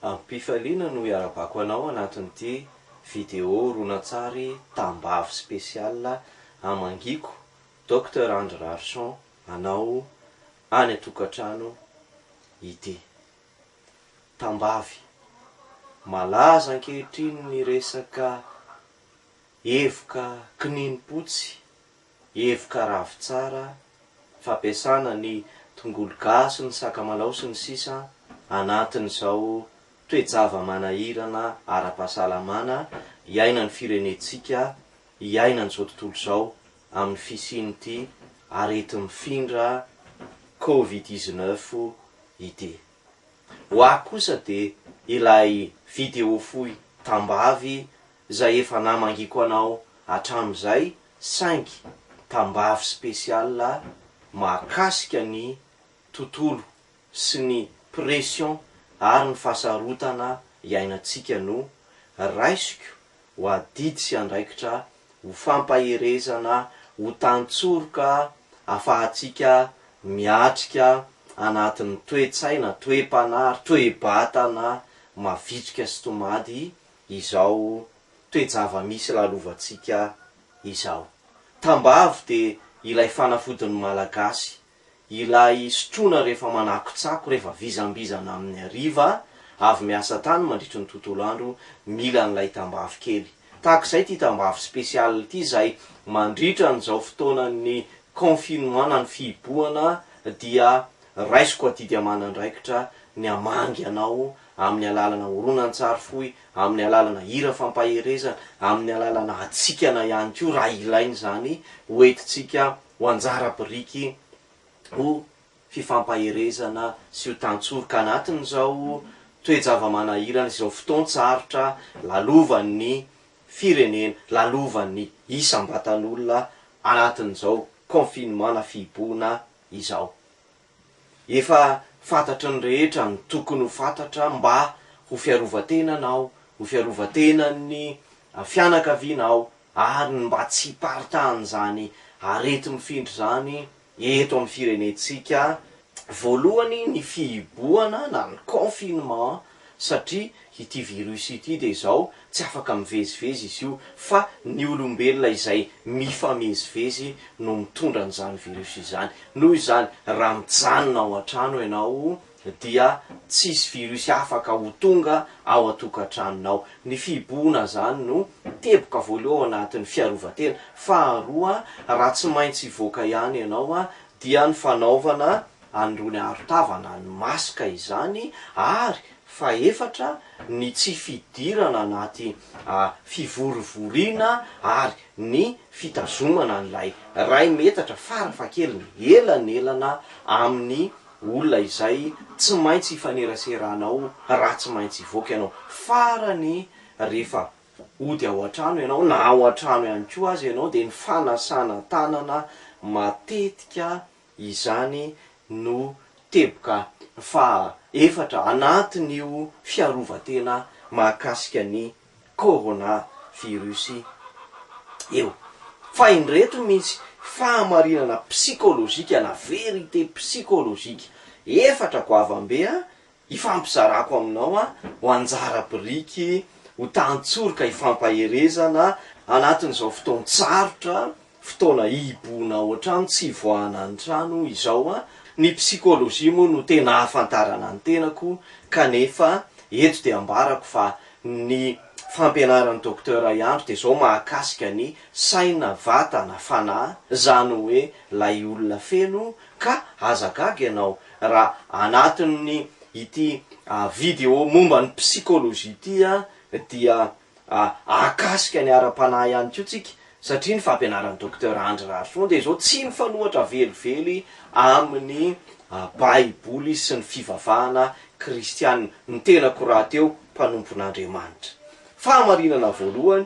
Amim-pifaliana no iarabako anao anatin'ity video horonantsary tambavy spécial amangiako Docteur Andry Raharison anao any an-tokantrano ity. Tambavy malaza ankehitriny ny resaka evoka kininimpotsy. Hevoka ravitsara, fampiasana ny tongolo gasy, ny sakamalaho sy ny sisa anatin'izao toe-java-manahirana ara-pahasalamana iainan'ny firenentsika, iainan'izao tontolo izao amin'ny fisian'ity areti-mifindra covid dix-neuf ity. Ho ahy kosa dia ilay vidéo fohy tambavy izay efa namangiako anao hatramin'izay saingy tambavy special mahakasika ny tontolo sy ny pression ary ny fahasarotana iainantsika no raisiko ho adidy sy andraikitra ho fampaherezana ho tantsoroka afahantsika miatrika anatin'ny toe-tsaina, toe-panahy ary toe-batana mavitrika sy tomady izao toe-java-misy lalovantsika izao. Tambavy dia ilay fanafodin'ny Malagasy, ilay sotroina rehefa manakotsako, rehefa vizambizana amin'ny hariva, avy miasa tany mandritry ny tontolo andro, mila an'ilay tambavy kely. Tahaka izay ity tambavy spécial ity izay mandritra an'izao fotoanan'ny confinement na ny fihibohana dia raisiko adidy aman'andraikitra ny hamangy anao amin'ny alalana horonantsary fohy, amin'ny alalana hira fampaherezana, amin'ny alalana hatsikana ihany koa raha ilaina izany ho entintsika ho anjara biriky ho fifampaherezana sy ho tantsoroka anatin'izao toe-java-manahirana sy izao fotoan-tsarotra lalovan'ny firenena, lalovan'ny isam-batan'olona anatin'izao confinement na fihibohana izao. Efa fantatry ny rehetra ny tokony ho fantatra mba ho fiarovan-tenanao, ho fiarovan-tenan'ny fianakavianao ary ny mba tsy hiparitahan'izany areti-mifindra izany eto amin'ny firenentsika. Voalohany ny fihibohana na ny confinement satria ity virus ity dia izao tsy afaka mivezivezy izy io fa ny olombelona izay mifamezivezy no mitondra an'izany virus izany, noho izany raha mijanona ao an-trano ianao dia tsisy virus afaka ho tonga ao an-tokantranonao, ny fihibohona izany no teboka voaloha ao anatin'ny fiarovan-tena, faharoa raha tsy maintsy hivoaka ihany ianao dia ny fanaovana an'irony arotavana ny maska izany ary fahefatra ny tsy fidirana anaty fivorivoriana ary ny fitazomana an'ilay iray metatra farafahakeliny elanelana amin'ny olona izay tsy maintsy ifaneraseranao raha tsy maintsy hivoaka ianao. Farany rehefa hody ao an-trano ianao na ao an-trano ihany koa aza ianao dia ny fanasana tanana matetika Izany no teboka faha efatra anatin'io fiarovan-tena mahakasika ny Corona Virus io. Fa indreto misy fahamarinana psikolojika na vérité psikolojika efatra goavam-be Ifampizarako aminao aho ho anjara biriky, ho tantsoroka ifampaherezana anatin'izao fotoan-tsarotra, fotoana hihibohonao an-trano, tsy hivoahana ny trano, izao. Ny psikôlôjia moa no tena ahafantarana ny tenako kanefa eto dia ambarako fa ny fampianaran'i Docteur I Andry dia izao mahakasika ny saina, vatana, fanahy, izany hoe ilay olona feno ka aza gaga ianao Raha anatin'ny ity video momba ny psychologie ity dia ahakasika ny ara-panahy ihany koa tsika satria ny fampianaran'i Docteur Andry Rarison dia izao tsy mifanohatra velively amin'ny baiboly sy ny fivavahana kristiana. Ny tenako rahateo mpanompon'Andriamanitra. Fahamarinana voalohany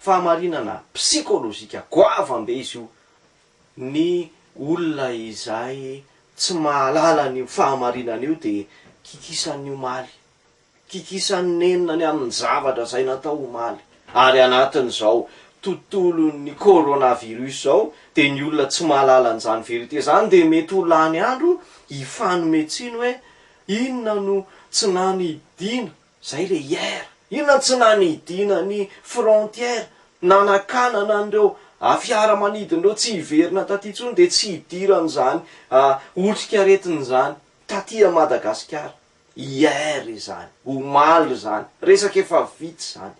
Fahamarinana psikolojika goavam-be izy io. Ny olona izay tsy mahalala an'io fahamarinana io dia kikisan'ny omaly, kikisan'ny nenina ny amin'ny zavatra izay natao omaly. Ary anatin'izao tontolon'ny coronavirus izao dia ny olona tsy mahalala an'izany vérité izany dia mety ho lany andro hifanome tsiny hoe inona no tsy nanidiana Zay le hier. Inona no tsy nanidina ny frontière nanakanana an'ireo fiara manidina ireo tsy hiverina taty intsony dia tsy hidiran'izany otrikaretina izany taty a Madagasikara. Hier izany, omaly izany. Resaka efa vita izany.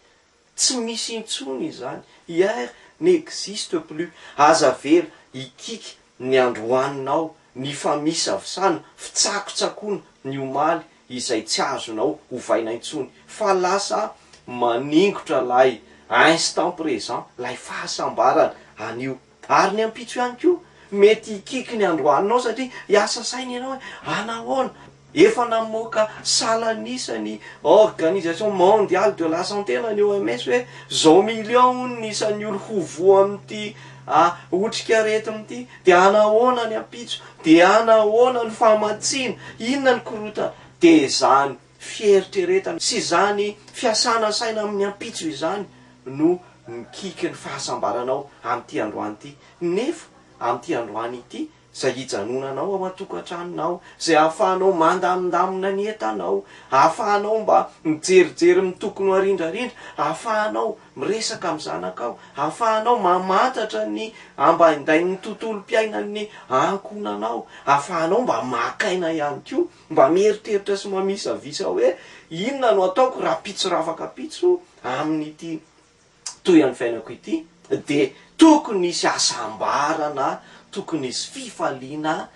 Tsy misy intsony izany, hier n'existe plus, aza avela hikiky ny androaninao, ny famisavsana, fitsakotsakoana ny omaly izay tsy azonao ovaina intsony, fa lasa maningotra lay instant présent, lay fahasambarana anio. Ary ny ampitso ihany koa mety hikiky ny androanonao satria hiasa saina ianao hoe hanahoana? Efa namoaka salan'isa ny Organisation Mondiale de la Santé na ny OMS hoe zao million hono ny isan'ny olo ho voa amin'ity otrik'aretina ity dia hanahoana ny ampitso? Dia hanahoana ny famatsiana? Inona ny korotana? Dia izany. fieritreretana sy izany fiasana saina amin'ny ampitso izany no mikiky ny fahasambaranao amin'ity androany ity, nefa amin'ity androany ity izay hijanonanao ao an-tokantranonao, izay ahafahanao mandamindamina ny entanao, ahafahanao mba mijerijery ny tokony ho arindrarindra, ahafahanao miresaka amin'ny zanakao, ahafahanao mamantatra ny ambaindain'ny tontolom-piainan'ny ankohonanao, ahafahanao mba maka aina ihany koa. Mba mieritreritra sy mamisavisa hoe inona no ataoko raha pitso rafaka pitso amin'ity tohin'ny fiainako ity dia tokony hisy hasambarana, tokony hisy fifaliana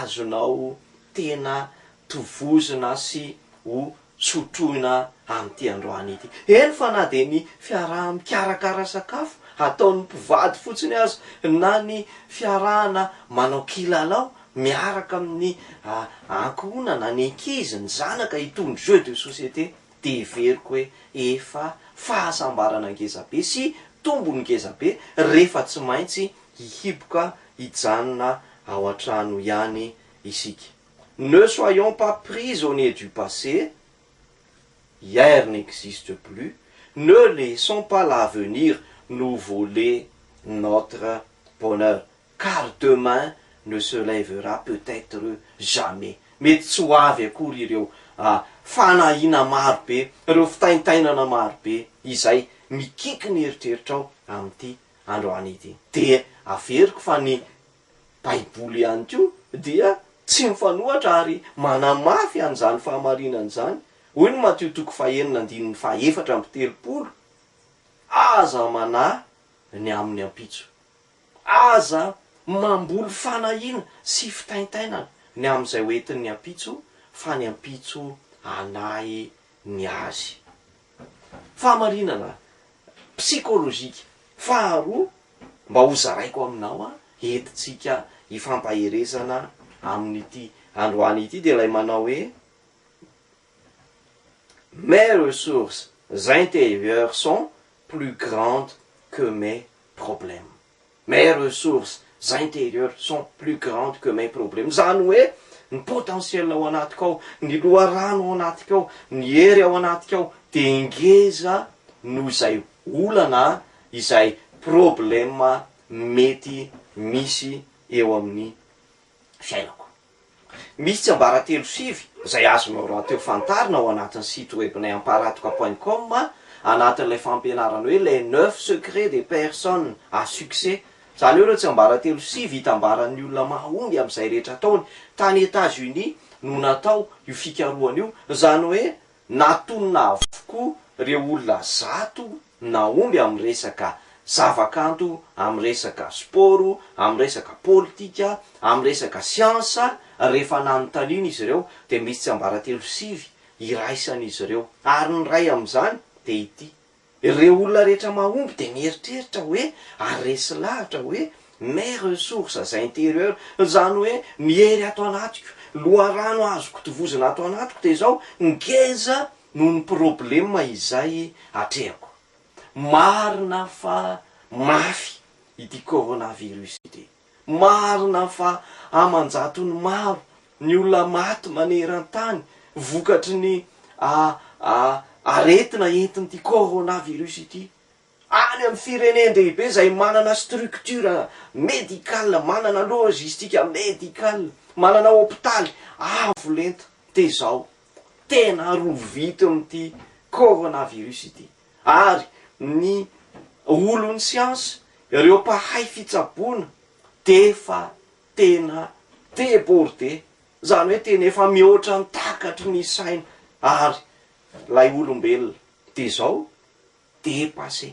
azonao tena tovozina sy ho tsy ho trohina amin'ity androany ity. Eny fa na dia ny fiaraha-mikarakara sakafo ataon'ny mpivady fotsiny aza, na ny fiarahana manao kilalao miaraka amin'ny ankohonana, ny ankizy, ny zanaka, itony jeux de société dia heveriko hoe efa fahasambarana ngezabe sy tombony ngezabe rehefa tsy maintsy hihiboka hijanona ao an-trano ihany isika. Ne soyons pas prisonniers du passé, hier n'existe plus, ne laissons pas l'avenir nous voler notre bonheur car demain ne se lèvera peut-être jamais, mety tsy ho avy akory ireo fanahiana maro be, ireo fitaintainana maro be izay mikiky ny eritreritrao amin'ity androany ity. Dia averiko fa ny Baiboly ihany koa dia tsy mifanohitra ary manamafy an'izany fahamarinana izany. Hoy ny Matio toko fahenina andininy fahefatra amby telopolo, Aza manahy ny amin'ny ampitso. Aza mamboly fanahiana sy fitaintainana ny amin'izay ho entin'ny ampitso, fa ny ampitso hanahy ny azy. Fahamarinana psikolojika. Faharoa, mba hozaraiko aminao an, entintsika hifampaherezana amin'ity androany ity dia ilay manao hoe, Mes ressources intérieures sont plus grandes que mes problèmes. Mes ressources intérieures sont plus grandes que mes problèmes, izany hoe ny potentiel ao anatiko ao, ny loharano ao anatiko ao, ny hery ao anatiko ao dia ngeza noho izay olana, izay problème mety misy eo amin'ny fiainako. Misy tsiambaratelo sivy izay azonao rahateo fantarina ao anatin'ny site webnay amparatoka point com anatin'ilay fampianarana hoe Les neuf secrets des personnes à succès. Izany hoe ireo tsiambaratelo sivy itambaran'ny olona mahomby amin'izay rehetra ataony. Tany Etats-Unis no natao io fikarohana io. Izany hoe Natonina avokoa ireo olona zato nahomby amin'ny resaka zavakanto, amin'ny resaka spaoro, amin'ny resaka politika, amin'ny resaka siansa, rehefa nanontaniana izy ireo dia misy tsiambaratelo sivy iraisan'izy ireo ary ny iray amin'izany dia ity, Ireo olona rehetra mahomby dia mieritreritra hoe ary resy lavitra hoe mes ressources intérieures, izany hoe ny hery ato anatiko, loharano azoko tovozina ato anatiko dia izao, ngeza noho ny problema izay atrehako. Marina fa mafy ity coronavirus ity. Marina fa aman-jatony maro ny olona maty maneran-tany vokatry ny aretina entin'ity coronavirus ity. Any amin'ny firenen-dehibe izay manana structure médicale, manana logistique médicale, manana hopitaly avo lenta dia izao, tena rovitin'ity coronavirus ity. ary ny olon'ny siansa, ireo mpahay fitsaboana dia efa tena débordé, izany hoe tena efa mihoatra ny takatry ny saina ary ilay olombelona dia izao dépassé.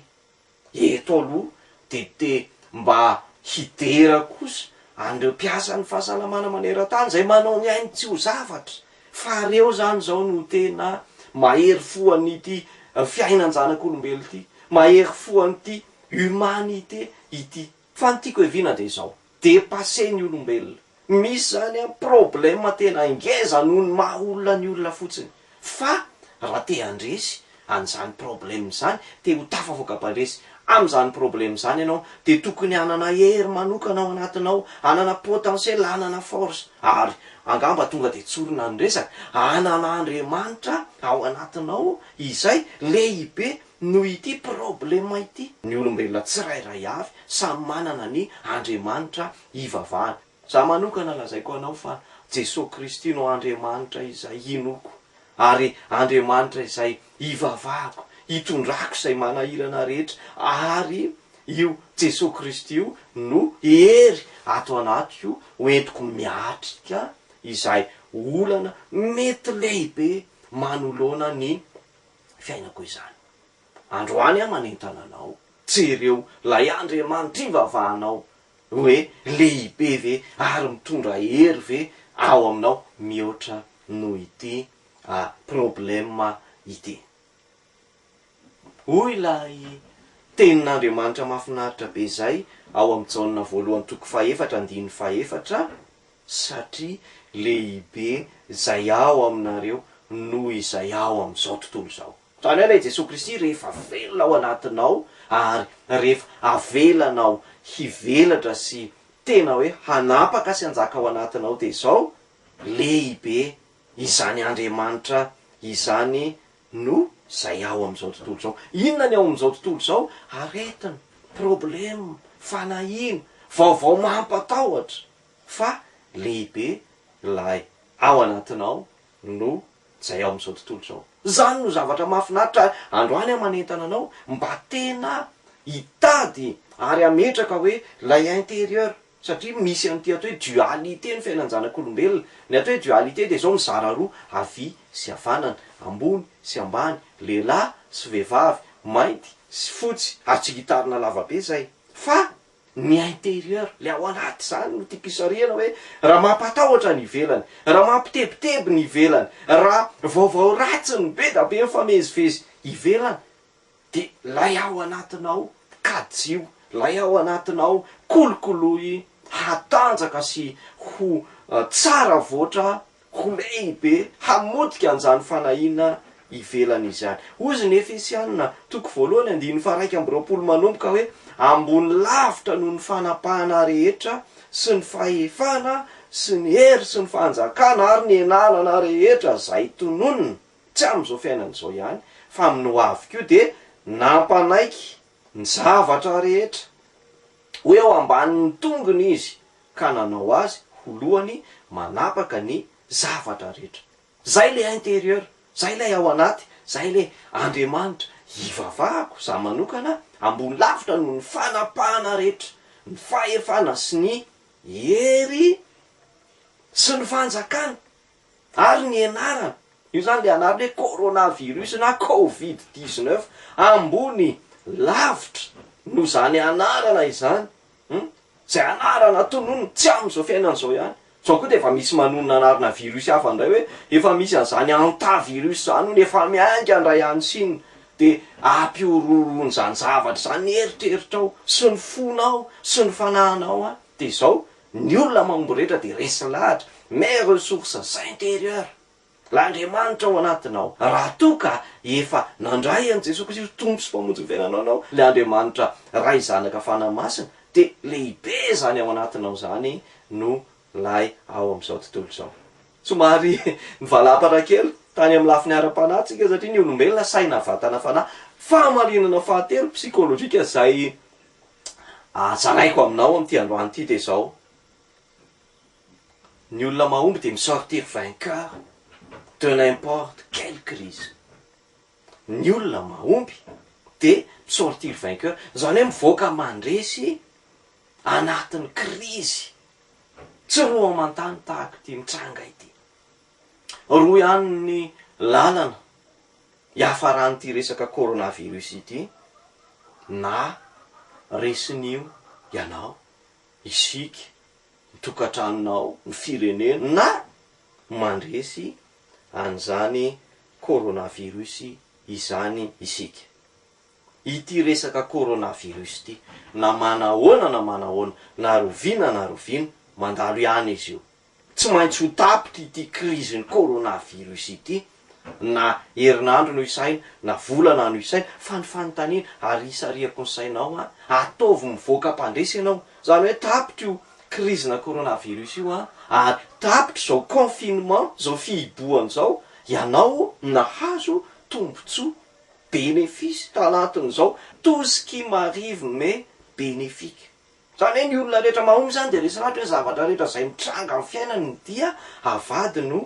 Eto aloha dia te mba hidera kosa an'ireo mpiasan'ny fahasalamana maneran-tany izay manao ny ainy tsy ho zavatra Fa reo zany zao no tena mahery fo an'ity fiainan-janak'olombelo ty, mahery fo an'ity humanité ity. Fa ny tiako heviana dia izao, dépasser ny olombelona. Misy zany an problème tena ngeza noho ny maha olona ny olona fotsiny. Fa raha te handresy an'izany problème izany dia ho tafavoaka bandresy amin'izany problème izany ianao dia tokony hanana hery manokana ao anatinao, hanana potentiel, hanana force ary angamba tonga dia tsorina ny resaka, hanana Andriamanitra ao anatinao izay lehibe noho ity problème ity. Ny olombelona tsirairay avy samy manana ny Andriamanitra hivavahany. Za manokana lazaiko anao fa Jesoa Kristy no Andriamanitra izay hinoako ary Andriamanitra izay hivavahako, hitondrako izay manahirana rehetra ary io Jesoa Kristy io no hery ato anatiko ho entiko miatrika izay olana mety lehibe manoloana ny fiainako izany. Androany aho manentana anao, jereo ilay Andriamanitra ivavahanao Hoe lehibe ve ary mitondra hery ve ao aminao mihoatra noho ity problema ity? Hoy ilay Tenin'Andriamanitra mahafinaritra be izay ao amin'i Jaona voalohany toko fahefatra andininy fahefatra, Satria lehibe izay ao aminareo noho izay ao amin'izao tontolo izao. Izany hoe ilay Jesoa Kristy rehefa velona ao anatinao ary rehefa avelanao hivelatra sy tena hoe hanapaka sy hanjaka ao anatinao dia izao, Lehibe izany Andriamanitra izany noho izay ao amin'izao tontolo izao. Inona ny ao amin'izao tontolo izao? Aretina, problème, fanahiana, vaovao mampatahotra, fa lehibe ilay ao anatinao no izay ao amin'izao tontolo izao. Izany no zavatra mahafinaritra androany aho manentana anao mba tena hitady ary hametraka hoe ilay intérieur satria misy an'ity atao hoe dualité ny fiainan-janak'olombelona. Ny atao hoe dualité dia izao mizara roa havia sy havanana, ambony sy ambany, lehilahy sy vehivavy, mainty sy fotsy ary tsy gitarina lavabe izay fa Ny intérieur, ilay ao anaty izany no tiako isarihana hoe raha mampatahotra ny ivelany, raha mampitebiteby ny ivelany, raha vaovao ratsy no be da be mifamezivezy ivelany dia ilay ao anatinao kajiho, ilay ao anatinao kolokoloy hatanjaka sy ho tsara avoatra Ho lehibe hamotika an'izany fanahiana ivelany izany. Hoy izy ny Efesiana, toko voalohany andininy faha-iraika amby roapolo manomboka hoe, Ambony lavitra noho ny fanapahana rehetra sy ny fahefana sy ny hery sy ny fanjakana ary ny enanana rehetra izay tononina, tsy amin'izao fiainana izao ihany, fa amin'ny ho avy koa, dia nampanaiky ny zavatra rehetra ho eo ambanin'ny tongony izy, ka nanao azy ho lohany manapaka ny zavatra rehetra. Zay le intérieur, zay lay ao anaty, zay le Andriamanitra hivavahako za manokana ambony lavitra noho ny fanapahana rehetra, ny fahefana sy ny hery sy ny fanjakana. Ary ny anarany, io izany ilay anarany hoe coronavirus na covid dix neuf, ambony lavitra noho izany anarana izany, hum, izay anarana tononina tsy amin'izao fiainana izao ihany, izao koa dia efa misy manonona anarana virus hafa indray hoe efa misy an'izany hantavirus izany hono efa miainga indray any Chine, dia ampihorohoroan'izany zavatra izany ny eritreritrao sy ny fonao sy ny fanahinao any, dia izao Ny olona mahomby rehetra dia resy lahatra, mais ressources intérieures, l'Andriamanitra ao anatinao. Raha toa ka efa nandray an'i Jesoa Kristy ho Tompo sy Mpamonjy ny fiainanao ianao, ilay Andriamanitra Ray, Zanaka, Fanahy Masina, dia lehibe izany ao anatinao izany no lay ao amin'izao tontolo izao. Somary nivalampatra kely tany amin'ny lafiny ara-panahy tsika satria ny olombelona, saina, vatana, fanahy, fahamarinana fahatelo, psychologique, izay Ahatsaraiko aminao amin'ity androany ity dia izao, ny olona mahomby dia mi-sortir vainqueur de n'importe quelle crise. Ny olona mahomby dia mi-sortir vainqueur, izany hoe mivoaka mandresy anatin'ny krizy tsy roa aman-tany tahaka ity mitranga ity. Roa ihany ny lalana hiafaran'ity resaka coronavirus ity, na resin'io ianao, isika, ny tokantranonao, ny firenena, na mandresy an'izany coronavirus izany isika. Ity resaka coronavirus ity, na manahoana na manahoana, na roviana na roviana, mandalo ihany izy io. Tsy maintsy ho tapitra ity krizin'ny coronavirus ity, na herinandro no isaina, na volana no isaina, fa ny fanontaniana, ary isarihako ny sainao an, ataovy mivoaka mpandresy ianao, izany hoe tapitra io krizina coronavirus io an, ary tapitra izao confinement, izao fihibohana izao, ianao nahazo tombotsoa, benefice, tanatin'izao tout ce qui m'arrive m'est bénéfique. Zany hoe ny olona rehetra mahomby zany dia resy lahatra hoe zavatra rehetra zay mitranga am fiainany dia avadiny ho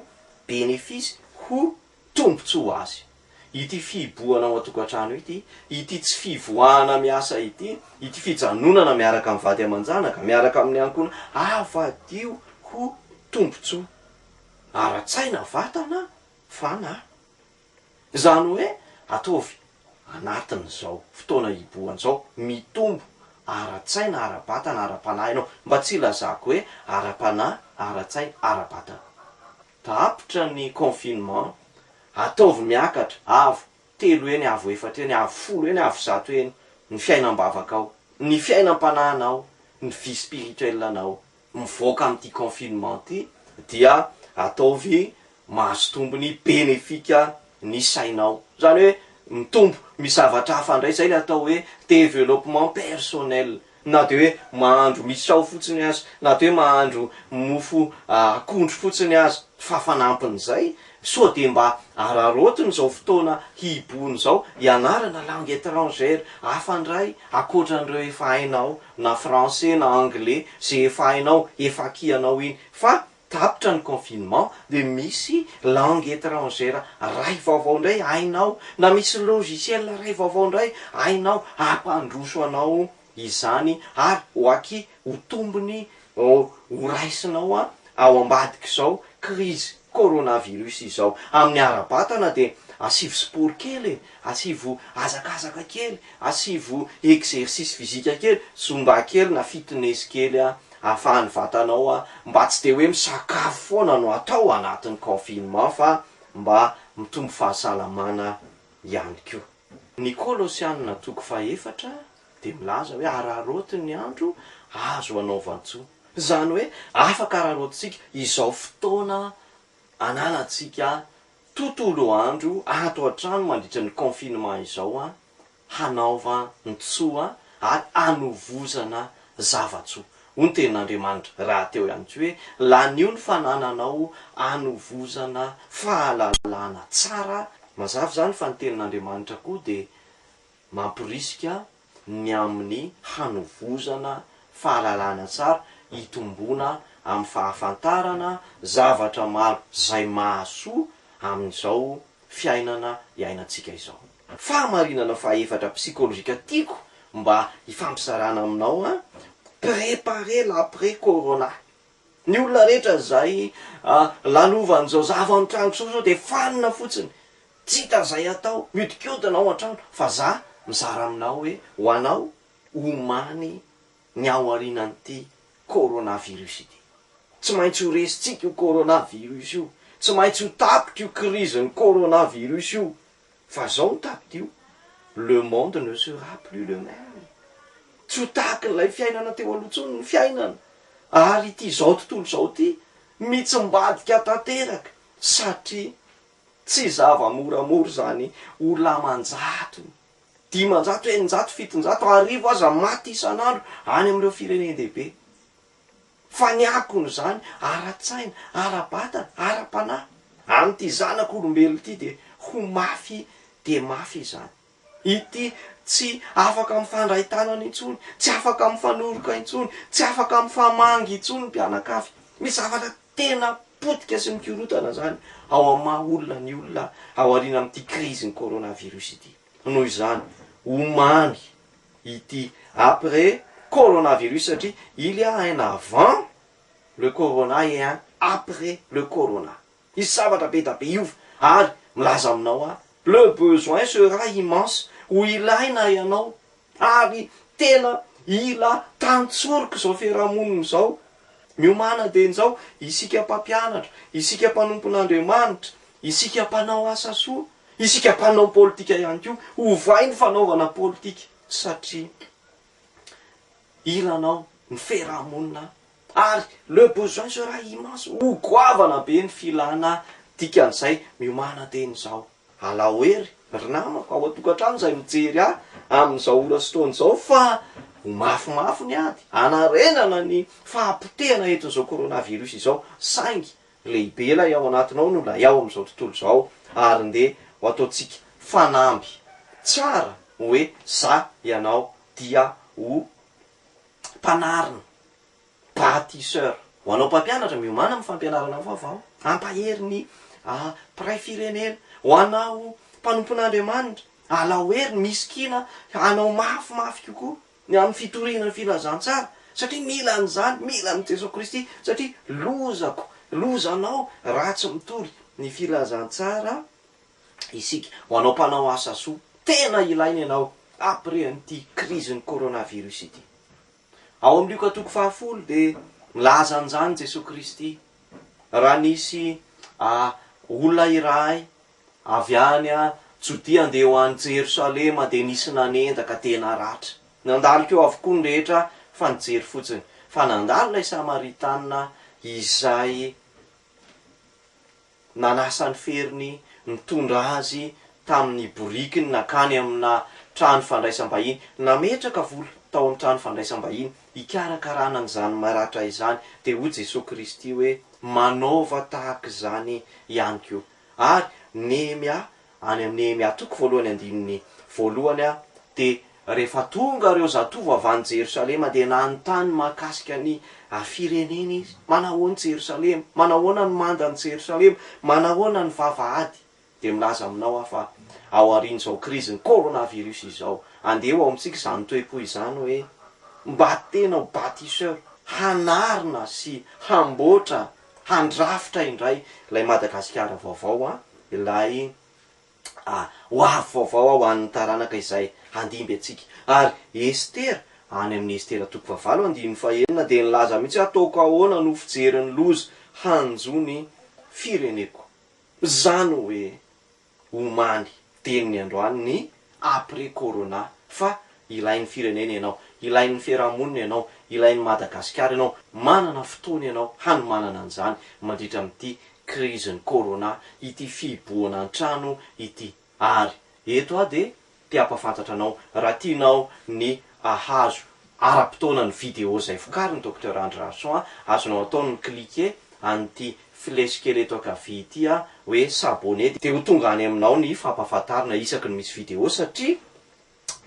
bénéfice ho tombotsoa ho azy. Ity fihibohana ao antokatrano ity, ity tsy fivoahana miasa ity, ity fijanonana miaraka am vady amanjanaka, miaraka amin ankona avadio ho tombotsoa ara tsaina, vatana, fanahy. Izany hoe ataovy anatin'izao fotoana hibohana izao, mitombo ara-tsaina, ara-batana, ara-panahy ianao. Mba tsy hilazako hoe ara-panahy, ara-tsaina, ara-batana. Tapitra ny confinement, ataovy miakatra, avo telo eny, avo efatra eny, avo folo eny, avo zato eny ny fiainam-bavakao, ny fiainam-panahinao, ny vie spirituelle-nao. mivoaka amin'ity confinement ity dia ataovy mahazo tombony benefika ny sainao. Izany hoe mitombo misy zavatra hafa indray, izay ilay atao hoe développement personnel. Na dia hoe mahandro misao fotsiny aza, na dia hoe mahandro mofo akondro fotsiny aza fa fanampin'izay, sao dia mba araraotiny izao fotoana hihibohony izao, ianarana langue étrangère hafa indray ankoatra an'ireo efa hainao. na français na anglais ze efa hainao efa acquis anao iny fa tapitra ny confinement de misy langue etrangère ray vaovao indray hainao na misy logiciel ray vaovao indray hainao hampandroso anao izany ary ho acquis ho tombony ho raisinao ao ambadik'izao crise Coronavirus izao. Amin'ny ara-batana dia asivo sport kely e, asivo hazakazaka kely, asivo exercice physique kely, zumba kely na fitness kely ahafahan'ny vatanao mba tsy dia hoe misakafo foana no atao anatin'ny confinement fa mba mitombo fahasalamana ihany koa. Ny Kolosiana toko fahefatra dia milaza hoe araraoty ny andro azo hanaovan-tsoa. Izany hoe afaka araraotintsika izao fotoana ananantsika tontolo andro ato an-trano mandritra ny confinement izao hanaovan-tsoa ary hanovozana zava-tsoa. Hoy ny tenin'Andriamanitra rahateo ihany koa hoe lanio ny fanananao hanovozana fahalalana tsara. Mazava izany fa ny tenin'Andriamanitra koa dia Mamporisika ny amin'ny hanovozana fahalalana tsara hitomboana amin'ny fahafantarana zavatra maro izay mahasoa amin'izao fiainana iainantsika izao. Fahamarinana fahefatra psychologique tiako mba hifampizarana aminao an, preparer l'après corona. Ny olona rehetra izay lalovan'izao zava ao an-tranoko izao sao dia fanina fotsiny, tsy hita izay atao, miodikodina ao an-trano, fa za mizara aminao hoe ho anao omany ny ao aorianan'ity corona virus ity. Tsy maintsy ho resintsika io corona virus io, tsy maintsy ho tapitra io krizin'ny corona virus io Fa zao no tadidio, le monde ne sera plus le meme. Tsy ho tahaka ilay fiainana teo aloha intsony ny fiainana, ary ity izao tontolo izao ity mitsimbadika tanteraka, satria tsy zava-moramora izany ho laman-jatony, dimanjato, eninjato, fitonjato, arivo aza maty isan'andro any amin'ireo firenen-dehibe. Fa ny akon'izany ara-tsaina, ara-batana, ara-panahy, amin'ity zanak' olombelona ity dia ho mafy dia mafy izany. Ity tsy afaka mifandray tanana intsony, tsy afaka mifanoroka intsony, tsy afaka mifamangy intsony ny mpianakavy. Misy zavatra tena potika sy mikorontana izany ao amin'ny maha olona ny olona aoriana amin'ity krizin'ny coronavirus ity. Noho izany, omamy ity après coronavirus satria il ya un avant le corona et un après le corona misy zavatra be da be hiova ary milaza aminao aho le besoin sera immense ho ilaina ianao ary tena ila tantsoroka izao fiarahamonina izao Miomàna dia injao, isika mpampianatra, isika mpanompon'Andriamanitra, isika mpanao asa soa, isika mpanao politika ihany koa, ovay ny fanaovana politika satria ilanao ny fiarahamonina ary le besoin sera immense, ho goavana be ny filana, dikan'izay miomàna teny izao. Alao hery ry namako ao an-tokantrano izay mijery ahy amin'izao ora sy fotoana izao fa ho mafimafy ny ady hanarenana ny fahapotehana entin'izao coronavirus izao saingy lehibe ilay ao anatinao noho ilay ao amin'izao tontolo izao ary ndeha ho ataontsika fanamby tsara hoe za ianao dia ho mpanarina Bâtisseur. Ho anao mpampianatra, miomàna amin'ny fampianarana vaovao. Ampahery ny mpiray firenena. Ho anao mpanompon'Andriamanitra, alao hery ny misikina hanao mafimafy kokoa ny amin'ny fitoriana ny filazantsara, satria mila an'izany, mila an'i Jesoa Kristy, satria lozako, lozanao raha tsy mitory ny filazantsara isika. Ho anao mpanao asa soa, tena ilaina ianao après an'ity krizin'ny coronavirus ity. Ao amin'ny Lioka toko fahafolo dia milaza an'izany Jesoa Kristy, raha nisy olona iray avy any Jodia andeha ho any Jerosalema dia nisy nanenda ka tena ratra. Nandalo teo avokoa ny rehetra fa nijery fotsiny, fa nandalo ilay Samaritanina izay Nanasa ny feriny nitondra azy tamin'ny borikiny nankany amina trano fandraisam-bahiny. Nametraka vola tao amin'ny trano fandraisam-bahiny hikarakarana an'izany maratra izany. Dia hoy Jesoa Kristy hoe, Manaova tahaka izany ihany koa. Ary Nehemia Any amin'ny Nehemia toko voalohany andininy voalohany dia rehefa tonga ireo zatovo avy any Jerosalema dia nanontany mahakasika ny firenena izy, manahoana Jerosalema? Manahoana ny manda an'i Jerosalema? Manahoana ny vavahady? Dia milaza aminao aho fa ao aorian'izao krizin'ny coronavirus izao, andeha ho ao amintsika izany toe-po izany hoe, mba tena ho bâtisseur, hanarina sy hamboatra handrafitra indray ilay Madagasikara vaovao an, ilay ho avy vaovao ho an'ny taranaka izay handimby antsika. Ary Estera, any amin'ny Estera toko fahavalo andininy fahenina dia nilaza mihitsy hoe ataoko ahoana no fijery ny loza hanjo ny fireneko. Izany hoe. Omaly teny ny androany ny après corona fa ilain'ny firenena ianao, ilain'ny fiarahamonina ianao, ilain'ny Madagasikara ianao, manana fotoana ianao hanomanana an'izany mandritra amin'ity krizin'ny corona, ity fihibohana an-trano ity. Ary eto aho dia te hampafantatra anao raha tianao ny ahazo ara-potoana ny video izay vokarin'i Docteur Andry Rahason a, azonao atao ny mi-cliquer an'ity flèche kely eto ankavia ity a, hoe s'abonner dia ho tonga any aminao ny fampahafantarana isaky ny misy video satria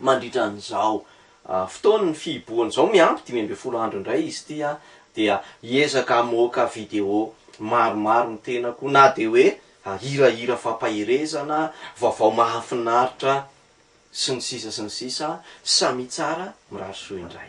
mandritra an'izao fotoan'ny fihibohana izao miampy dimy ambin'ny folo andro indray izy ity a, dia hiezaka hamoaka video maromaro ny tenako na dia hoe ary hirahira fampaherezana, vaovao mahafinaritra sy ny sisa sy ny sisa, samia tsara, mirary soa indray.